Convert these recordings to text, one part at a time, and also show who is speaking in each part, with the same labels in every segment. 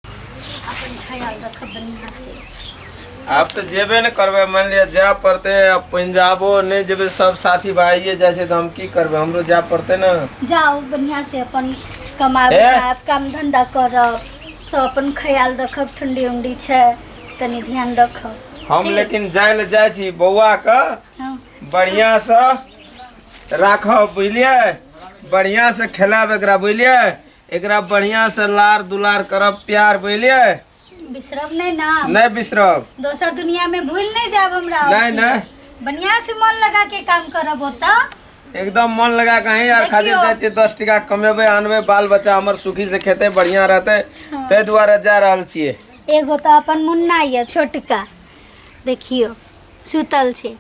Speaker 1: अपन ख्याल रखब बढ़िया से आब तऽ जेबे ने करबै मानि लिअ जाय पड़तै आब पंजाबो नहि जेबै सब साथी भाइये जाइ छै तऽ हम की करबै हमरो जाय पड़तै ने जाओ बढ़िया से अपन कमाब ए? खाब काम धंधा करब सब अपन ख्याल रखब ठंडी उंडी छै तनी ध्यान रखब हम ठीक। लेकिन जाय लए जाइ छी बौआके हाँ। बढ़िआँसँ राखब बुझलियै बढ़िआँसँ खेलाब एकरा बुझलियै एकरा बढ़िया से लार दुलार करब प्यार बुझलिए बिसरब नहीं ना नहीं बिसरब दोसर दुनिया में भूल नहीं जाब हमरा नहीं नहीं बढ़िया से मन लगा के काम करब होता एकदम मन लगा के ही यार खातिर देखियो। जाए छियै दस टका कमेबै आनबै बाल बच्चा हमर सुखी से खेतै बढ़िया रहतै ताहि दुआरे जा रहल छियै एगो तो अपन मुन्ना ये छोटका देखियो सुतल छे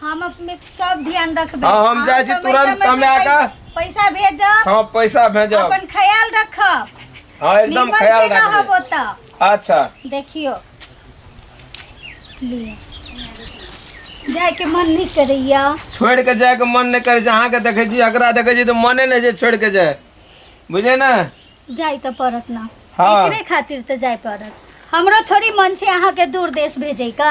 Speaker 1: हम अपने सब ध्यान रखबे हाँ, हम अहाँ जाइ छी समय तुरंत समय पे कमे आके। पैस- पैसा भेजब हाँ पैसा भेजब अपन ख्याल रखब हाँ एकदम निमन ख्याल से रहब रखबे ओतऽ अच्छा देखियो लिअ जाय के मन नहीं करैया छोड़ के जाए के मन नहीं करे छै अहाँ के देखे छी एकरा देखे छी तो मने नहीं छै छोड़ के जाए बुझे ना जाय तऽ पड़त ना हाँ। एकरे खातिर तऽ जाय पड़त हमरो थोड़ी मन छै अहाँके दूर देश भेजै का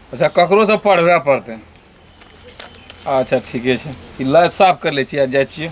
Speaker 1: अच्छा ककरो से पढ़बे पड़ते अच्छा ठीके छै ई लाइट साफ कर ले छियै जाइ छियै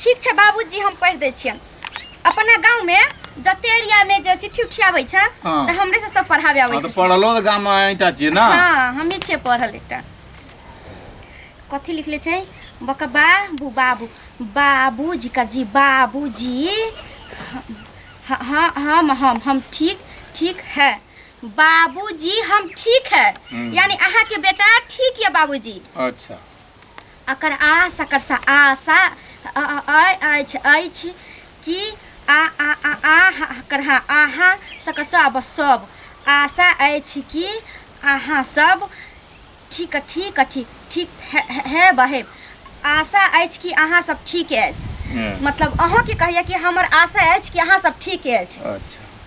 Speaker 1: ठीक छै बाबूजी हम पढ़ि दै छियनि अपना गाँवमे जते एरियामे जे चिट्ठी उठी आबै छै हाँ। तऽ हमरे से सब पढ़ाबे आबै हाँ, छै तो पढ़लो तो गाँव में अइता छियै ना हाँ हमी छियै पढ़ल एकटा कथी लिखले छै बका बाबू बाबू बाबूजी का जी बाबूजी ह- ह- हम हम हम ठीक ठीक है बाबूजी हम ठीक है हम्म। यानी अहाँ के बेटा ठीक यऽ बाबूजी अच्छा अकर आ सकर सा आ सा अ अ अय अछि अछि कि आ आ आ आ हा हकर हा आहा सकर सब सब आशा अछि कि अहाँ सब ठीक ठीक अछि ठीक हे हे- हे बहे आशा अछि कि अहाँ सब ठीक अछि हँ। मतलब अहूँके कहैया कि हमर आशा अछि कि अहाँ सब ठीक अछि अच्छा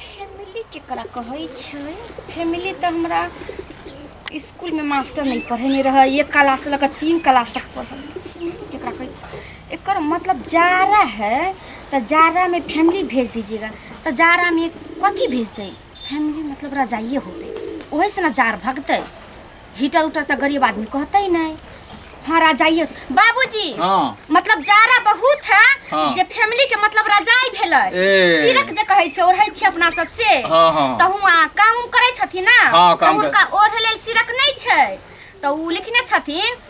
Speaker 1: फैमिली केकरा कहै छै फैमिली तऽ हमरा इसकुलमे मास्टर नहि पढ़ेने रहै एक क्लास लऽ कऽ तीन क्लास तक पढ़ल केकरा कहै एकर मतलब जाड़ा है तऽ जाड़ामे फैमिली भेज दीजिएगा तऽ जाड़ामे कथी भेजतै फैमिली मतलब रजाइए होतै ओहीसँ ने जाड़ भगतै हीटर उटर तो गरीब आदमी कहते ही नहीं हाँ राजाई बाबूजी हाँ मतलब जाड़ा बहुत है हाँ। जे फैमिली के मतलब राजाई भेलै ए। सिरक जे कहै छै ओढ़ै छै अपना सब से हाँ हाँ तऽ हुआँ काम उम करै छथिन ने हाँ, काम तऽ हुनका ओढ़ै लेल सिरक नहि छै तऽ ओ लिखने छथिन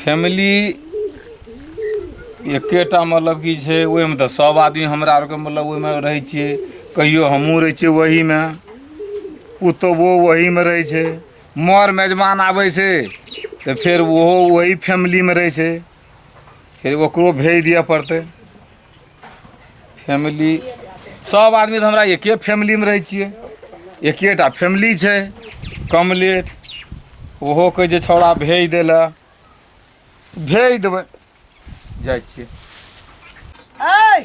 Speaker 1: फैमिली एकेटा मतलब की छै ओहिमे तऽ सब आदमी हमरा आरके मतलब ओहिमे रहै छियै कहियो हमहुँ रहै छियै ओहीमे पुतोहु ओहीमे रहै छै मर मेजबान आबै छै तऽ फेर ओहो ओही फैमिलीमे रहै छै फेर ओकरो भेज दिअ पड़तै फैमिली सब आदमी तऽ हमरा एके फैमिलीमे रहै छियै एकेटा फैमिली छै कम लेट ओहो कहै छै छौड़ा भेज दै लए भेज देबै जाइ छियै ऐ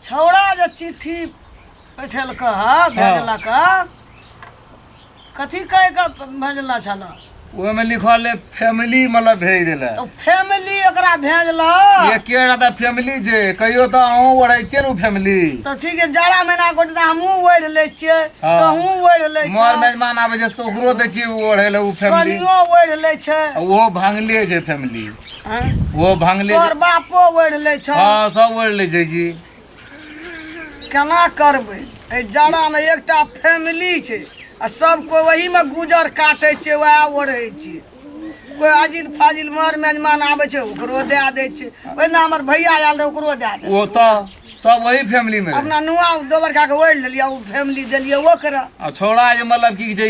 Speaker 1: छौड़ा जे चिट्ठी पठेलक हँ भेजलक हँ कथी कह के भेजला छला ओहि में लिखल है फैमिली मतलब भेज देला तो फैमिली एकरा भेजला ये के रहता फैमिली जे कहियो तो अहूँ ओढ़े छियै ने फैमिली तो ठीक है जाड़ा महीना को तो हमहू ओढ़ ले छिए हाँ। तो हमहू ओढ़ ले मोर छिए मेजमान आबे छै तो ओकरो दै छियै ओ ओढ़े ले ओ फैमिली कनियो ओढ़ ले छै ओहो भांगले छै फैमिली आँय? ओहो भांगले तोहर बापो ओढ़ ले छै हाँ सब ओढ़ ले छै की केना करबै एहि जाड़ामे एकटा फैमिली छै आ सब कोइ ओहीमे गुजर काटै छै वएह ओढ़ै छै कोइ अजिल फाजिल मर मेजमान आबै छै ओकरो दए दै छै ओहिना हमर भैया आयल रहै ओकरो दए दै ओ तऽ सब वही फैमिली में अपना नुआ दोबर कए कऽ ओढ़ि लेलियै ओ फैमिली देलियै ओकरा आ छौड़ा जे मतलब की छै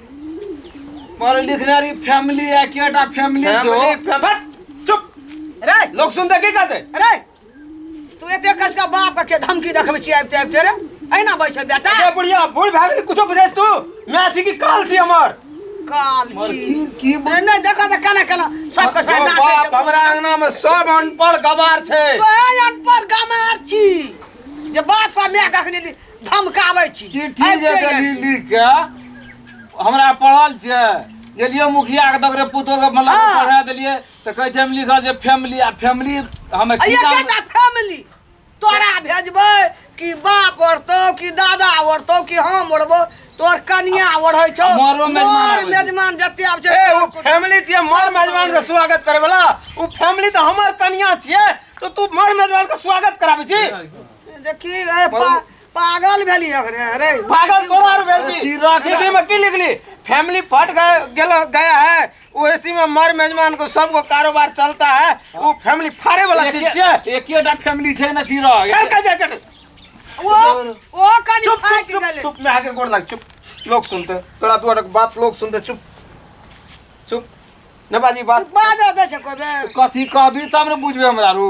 Speaker 1: पढ़ लिखने रही फैमिली है केटा फैमिली जो फैमिली फैमिली चुप रे लोग सुनते की कहते रे तू एते कस का बाप का के धमकी देखबे छी आबते आबते रे एना बैठे बेटा ये बुढ़िया बूढ़ भाग गई कुछो बुझे तू मैं छी की काल छी हमर काल छी की- की बोल- नहीं नहीं देखो तो केना केना सब कस हमर बाप हमरा अंगना में सब अनपढ़ गवार छै कहल अनपढ़ गमार छी जे बाप का मैं कखनी ली धमकाबै छी चिट्ठी जे अबिते देली अबिते। लिख के हमरा पढ़ल छै गेलियै मुखिया के दगरे पुतो के मतलब हाँ। पढ़ा देलियै तऽ कहै छै हम लिखल छै फैमिली आ फैमिली हमे की अइया जानबै? केटा फैमिली तोरा भेजबै कि बाप ओढ़तौ कि दादा ओढ़तौ कि हम ओढ़बौ तोर कनिया ओढ़ै छौ मरो मेजमान मर आबै छै। मेजमान जते आब छै ए ओ फैमिली छियै मर मेजबान के स्वागत करे वाला ओ फैमिली तऽ हमर कनिया छियै तो तू मर मेजबान के स्वागत कराबै छी देखी ए पा- पागल भेली अरे अरे पागल तोरा आर भेल छी चिड़क सीधी में की लिखली फैमिली फट गए गेल गया है वो इसी में मर मेजमान को सबको कारोबार चलता है वो फैमिली फाड़े वाला चीज छै एकेटा फैमिली छै ने सिरा कर के जा चट ओ ओ कनी चुप फाट चुप चुप गेले चुप मैं आके गोड़ लग चुप लोग सुनते तोरा दुआर के बात लोग सुनते चुप चुप न बाजी बात बाजा दे छै कोबे कथी कहबी तब ने बुझबे हमरा रू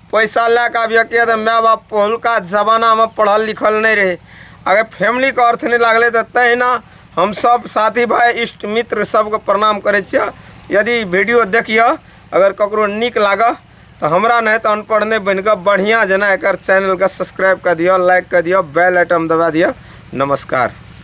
Speaker 1: पैसा लए कऽ आबियौ किए तऽ माय बाप पहिलुका जमानामे पढ़ल लिखल नहि रहै अगर फैमिलीके अर्थ नहि लागलै तऽ तहिना हमसभ साथी भाय इष्ट मित्र सभके प्रणाम करै छियै यदि वीडियो देखियौ अगर ककरो नीक लागऽ तऽ हमरा नहि तऽ अनपढ़ नहि बनि कऽ बढ़िआँ जेना एकर चैनलके सब्सक्राइब कऽ दियौ लाइक कऽ दियौ बेल आइटम दबा दियौ नमस्कार